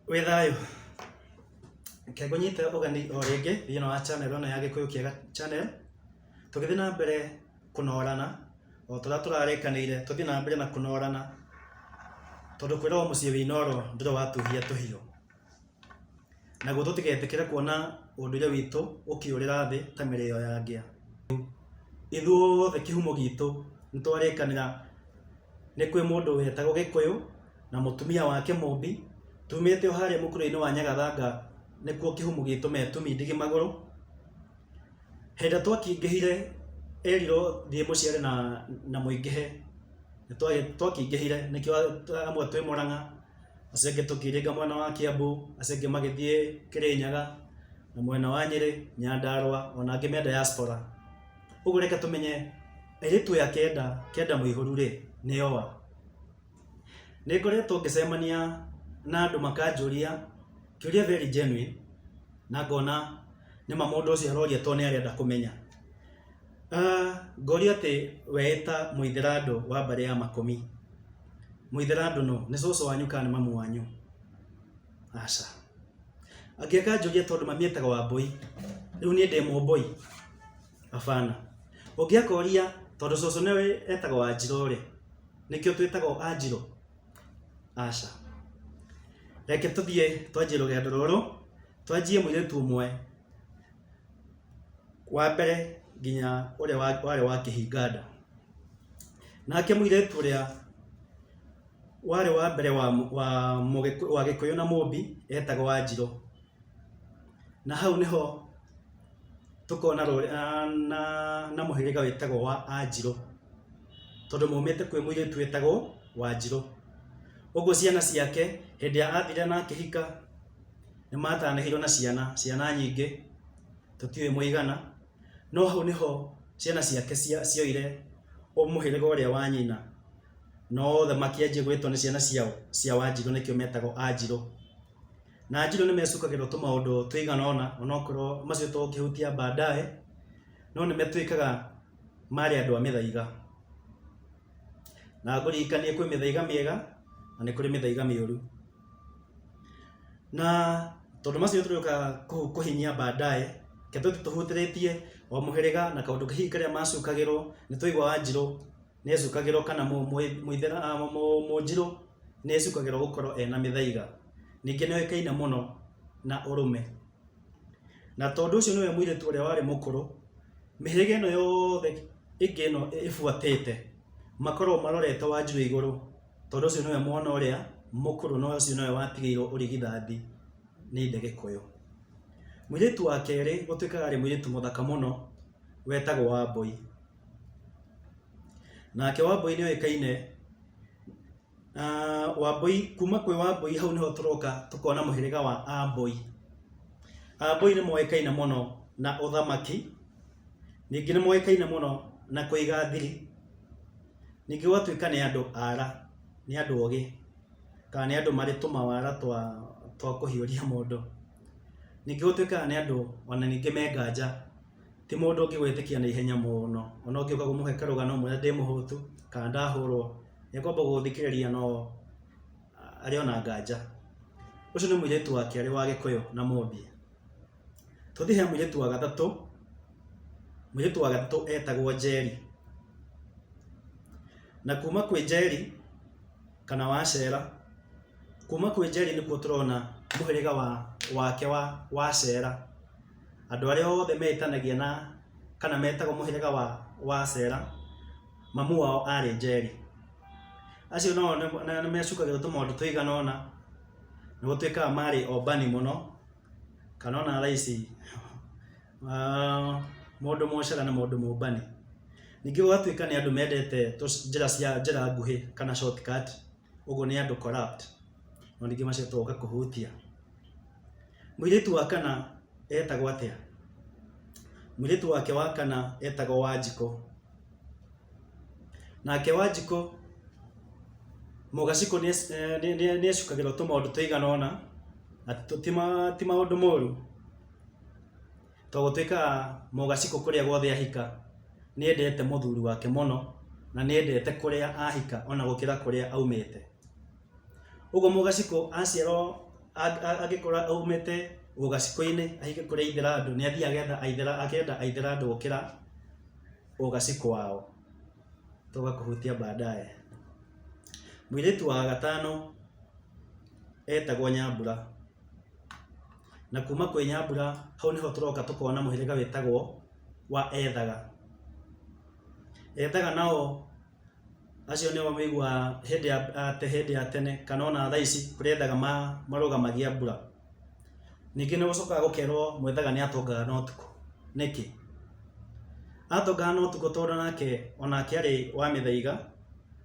Wĩ thayũ? Reke ngũnyite ũgeni o rĩngĩ thĩinĩ wa channel ĩno ya Gĩkũyũ Kĩega channel, tũgĩthiĩ na mbere kũnorana o ta ũrĩa tũrarĩkanĩire tũthiĩ na mbere na kũnorana, tondũ kwĩragwo mũciĩ wĩ inoro ndũrĩ watuhia tũhiũ. Naguo tũtigetĩkĩre kuona ũndũire witũ ũkĩũrĩra thĩ ta mĩrĩyo ya ngĩa. Ithuothe kĩhumo gitũ nĩ twarĩkanĩra nĩ kwĩ mũndũ wetagwo Gĩkũyũ. na mũtumia wake Mũmbi, tumĩte o harĩa mũkũrĩinĩ wa Nyagathanga nĩkuo kĩhumu gitũ me tũmindigi magũrũ. Hĩndĩ twakĩingĩhire erirwo thiĩ mũciere na na mũingĩhe. Twakĩingĩhire nĩkĩo amwe twĩ Mũrang'a, acio angĩ tũkĩringa mwena wa Kĩambu, acio angĩ magĩthiĩ Kĩrĩnyaga, na mwena wa Nyĩrĩ, Nyandarũa, ona angĩ me diaspora. Ũguo reke tũmenye airĩtu aya kenda, kenda mũihũru-rĩ, nĩ oa. Nĩ ngoretwo ngĩcemania na andũ makanjũria kĩũria very genuine na ngona nĩ ma mũndũ ũcio aroria tondũ nĩ arenda kũmenya. Ngorio atĩ we ta mũithĩrandũ wa mbarĩ ya makũmi, mũithĩrandũ nũ? Nĩ cũcũ wanyu kana nĩ mamu wanyu? Aca. Angĩ akanjũria tondũ mami etagwo Wambũi, rĩu niĩ ndĩ Mũmbũi? Abana. Ũngĩakoria tondũ cũcũ nĩwe etagwo Wanjirũ-rĩ, nĩkĩo twĩtagwo Anjirũ? Aca. Reke tũthiĩ twanjie rũgendo rũrũ, twanjie mũirĩtu ũmwe wa mbere nginya ũrĩa wa- warĩ wa Kĩhinganda. Nake mũirĩtu ũrĩa warĩ wa mbere wa mũ- wa Mũgĩkũ- wa Gĩkũyũ na Mũmbi etagwo Wanjirũ. Na hau nĩho tũkona rũrĩ- a- na, na mũhĩrĩga wĩtagwo wa anjirũ tondũ maumĩte kwĩ mũirĩtu wĩtagwo wanjirũ ũguo ciana ciake hĩndĩ ya athire na akĩhika nĩ matanĩhirwo na ciana ciana nyingĩ tũtiũĩ mũigana no hau nĩho ciana ciake cia- cioire mũhĩrĩga ũrĩa wa nyina na othe makĩanjia gwĩtwo nĩ ciana ciao cia wanjirũ nĩkĩo metagwo anjirũ na Njirũ nĩ mecukagĩrwo tũmaũndũ tũigana ũna onokorwo macio tũngĩhutia baadaye no nĩ matuĩkaga marĩ andũ a mĩthaiga na ngũririkanie kwĩ mĩthaiga mĩega na nĩ kũrĩ mĩthaiga mĩũru na tondũ macio tũrĩũka kũhinyia baadaye reke tũthiĩ tũhutĩrĩtie o mũhĩrĩga na kaũndũ hihi karĩa macukagĩrwo nĩ tũigua wa Njirũ. nĩacukagĩrwo kana mũithĩra mũnjirũ nĩacukagĩrwo gũkorwo ena mĩthaiga. Ningĩ nĩoĩkaine mũno na ũrũme. Na tondũ ũcio nĩwe mũirĩtu ũrĩa warĩ mũkũrũ, mĩhĩrĩga ĩno yothe ĩngĩ ĩno ĩbuatĩte makoragwo marorete Wanjirũ igũrũ tondũ ũcio nĩwe mwana ũrĩa mũkũrũ na ũcio nĩwe watigĩirwo ũrigithathi nĩ ithe Gĩkũyũ. Mũirĩtu wa kerĩ gũtuĩkaga arĩ mũirĩtu mũthaka mũno wetagwo Wambũi. nake wambũi nĩ oĩkaine na wambũi kuma kwĩ wambũi hau nĩho tũroka tũkona mũhĩrĩga wa ambũi ambũi nĩ moĩkaine mũno na ũthamaki ningĩ nĩ moĩkaine mũno na kũiga thiri ningĩ gwatuĩka nĩ andũ ara nĩ andũ ogĩ kana nĩ andũ marĩ tũmawara twa twa kũhiũria mũndũ ningĩ gũtuĩkaga nĩ andũ ona ningĩ me nganja. ti mũndũ ũngĩ gwĩtĩkia na ihenya mũno ona ũngĩũka kũmũhe karũgano ũmwĩre ndĩ mũhũtu kana ndahũrwo nĩekwamba gũgũthikĩrĩria no arĩ ona nganja ũcio nĩ mũirĩtu wa kerĩ wa gĩkũyũ na mũmbia tũthiĩ he mũirĩtu wa gatatũ mũirĩtu wa gatatũ etagwo njeri na kuma kwĩ njeri kana wacera kuma kwĩ njeri nĩkuo tũrona mũhĩrĩga wa wake wa wacera andũ arĩa othe metanagia na kana metagwo mũhĩrĩga wa, wa Asera, mamu wao arĩ Njeri. Acio nao nĩ- na- nĩmecukagĩrwo tũmaũndũ tũigana ũna, nĩ gũtuĩkaga marĩ ombani mũno, kana ona thaa ici ah, mũndũ mũcera nĩ mũndũ mũmbani. Ningĩ gũgatuĩka nĩ andũ mendete tũ- njĩra cia njĩra nguhĩ kana shortcut. ũguo nĩ andũ corrupt na ningĩ macio twoka kũhutia mũirĩtu wa kana etagwo atĩa mũirĩtu wake wa kana etagwo wanjikũ nake wanjikũ mũgacikũ nĩ acukagĩrwo tũmaũndũ tũigana ũna na ti maũndũ moru To gũtuĩka Mũgacikũ kũrĩa guothe ahika nĩ endete mũthuri wake mũno na nĩ endete kũrĩa ahika ona gũkĩra kũrĩa aumĩte. Ũguo Mũgacikũ aciarwo angĩkorwo aumĩte Ũgacikũ-inĩ ahike kũrĩa Aithĩrandũ nĩ athiaga agethga akenda Aithĩrandũ gũkĩra Ũgacikũ wao. Tũgoka kũhutia baadaye. Mũirĩtu wa gatano etagwo Nyambura. na kuma kwĩ nyambura hau nĩho tũroka tũkona mũhĩrĩga wĩtagwo wa ethaga. Ethaga nao acio nĩo wĩiguaga hĩndĩ ya atĩ hĩndĩ ya tene kana ona thaa ici kũrĩ ethaga marũgamagia mbura. Ningĩ nĩ gũcokaga gũkerwo mwethaga nĩ atongaga na ũtukũ. Nĩkĩ? Atongaga na ũtukũ tondũ nake onake arĩ wa mĩthaiga,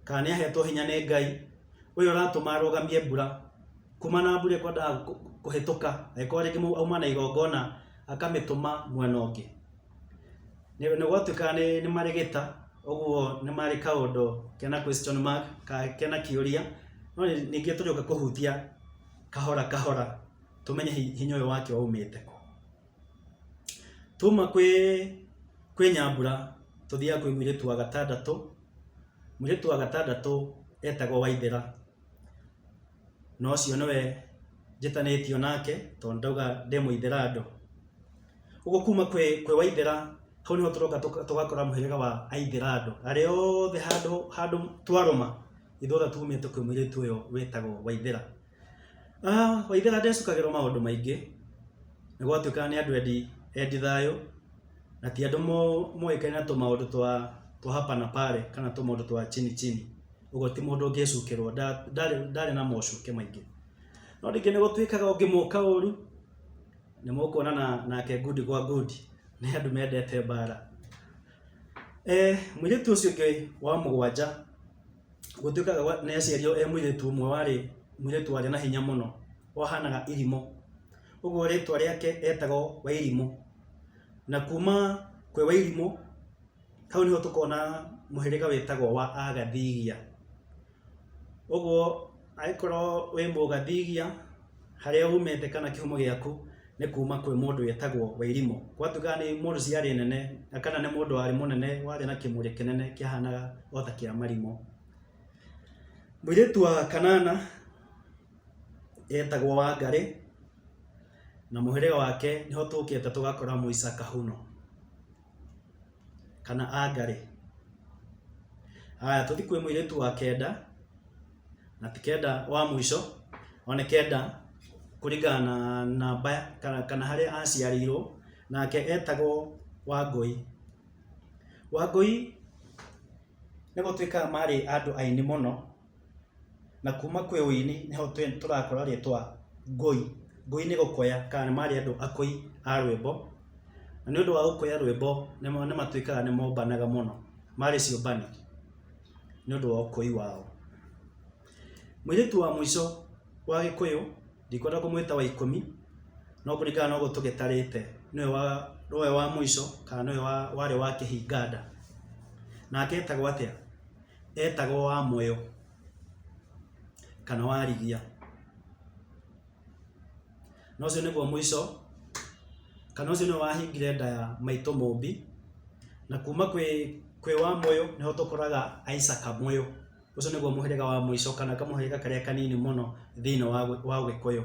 kana nĩ ahetwo hinya nĩ Ngai ũyũ ũratũma arũgamie mbura. kuma na mbura ĩkwendaga kũ- kũhĩtũka angĩkorwo rĩngĩ mũndũ auma na igongona akamĩtũma mwena ũngĩ nĩ nĩ gwatuĩka nĩ nĩ marĩ gĩta ũguo nĩ marĩ kaũndũ kena question mark ka kena kĩũria no nĩ- ningĩ tũrĩũka kũhutia kahora kahora tũmenye hi- hinya ũyũ wake waumĩte kũ tuma kwĩ kwĩ nyambura tũthiaga kwĩ mũirĩtu wa gatandatũ mũirĩtu wa gatandatũ etagwo waithĩra na ũcio nĩwe njĩtanĩtio nake tondũ ndauga ndĩ mũithĩra andũ. Ũguo kuma kwĩ kwĩ waithĩra hau nĩho tũroka tũgakora mũhĩrĩga wa aithĩra andũ. Arĩa othe handũ handũ twarũma ithuĩ othe tumĩte kwĩ mũirĩtu ũyũ wĩtagwo waithĩra. Waithĩra ndecukagĩrwo maũndũ maingĩ, nĩ gwatuĩkaga nĩ andũ endi endi thayũ, na ti andũ moĩkaine na tũmaũndũ twa twa hapa na pale kana tũmaũndũ twa chini chini. ũguo ti mũndũ ũngĩcukĩrwo nda- ndarĩ ndarĩ na mocuke maingĩ no rĩngĩ nĩ gũtuĩkaga ũngĩmũka ũru nĩ mũkuonana nake ngundi gwa ngundi nĩ andũ mendete mbara eh, mũirĩtu ũcio ũngĩ wa mũgwanja gũtuĩkaga gwa- nĩ aciarirwo e mũirĩtu ũmwe warĩ mũirĩtu warĩ na hinya mũno wahanaga irimũ ũguo rĩtwa rĩake etagwo wairimũ na kuma kwĩ wairimũ Hau nĩho tũkona mũhĩrĩga wĩtagwo wa Agathigia. Ũguo angĩkorwo wĩ Mũgathigia, harĩa umĩte kana kĩhumo gĩaku nĩ kuma kwĩ mũndũ wĩtagwo Wairimũ. Gwatuĩka nĩ mũndũ ciarĩ nene na kana nĩ mũndũ warĩ mũnene warĩ na kĩmũrĩ kĩnene kĩahanaga o ta kĩa marimũ. Mũirĩtu wa Kanana etagwo Wangarĩ, na mũhĩrĩga wake nĩho tũkĩte tũgakora Mũica Kahũno. kana anga rĩ haya tũthi kwĩ mũirĩtu wa kenda na ti kenda wa mũico one kenda kũringana na namba kana, kana harĩa aciarĩirwo nake etagwo wangũi wangũi nĩ gũtuĩkaga marĩ andũ aini mũno Na kuma kwĩ ũi nĩ nĩho tũrakora rĩtwa ngũi. Ngũi nĩ gũkoya kana nĩ marĩ andũ akũi a rwĩmbo, na nĩ ũndũ wa gũkoya rwĩmbo nĩ nĩ matuĩkaga nĩ mombanaga mũno, marĩ ciũmbanĩ nĩ ũndũ wa ũkũi wao. Mũirĩtu wa mũico wa gĩkũyũ ndikwenda kũmwĩta wa ikũmi no kũringana na ũguo tũgĩtarĩte nĩwe wa nĩwe wa mũico kana nĩwe wa warĩ wa kĩhinganda, nake etagwo atĩa? etagwo wa mũyo kana warigia na ũcio nĩguo mũico kana ũcio nĩwe wahingire nda ya maitũ mũmbi na kuma kwĩ kwĩ wa mũyo nĩho tũkoraga Isaka mũyo ũcio nĩguo mũhĩrĩga wa mũico kana kamũhĩrĩga karĩa kanini mũno thĩinĩ wa wa ũgĩkũyũ.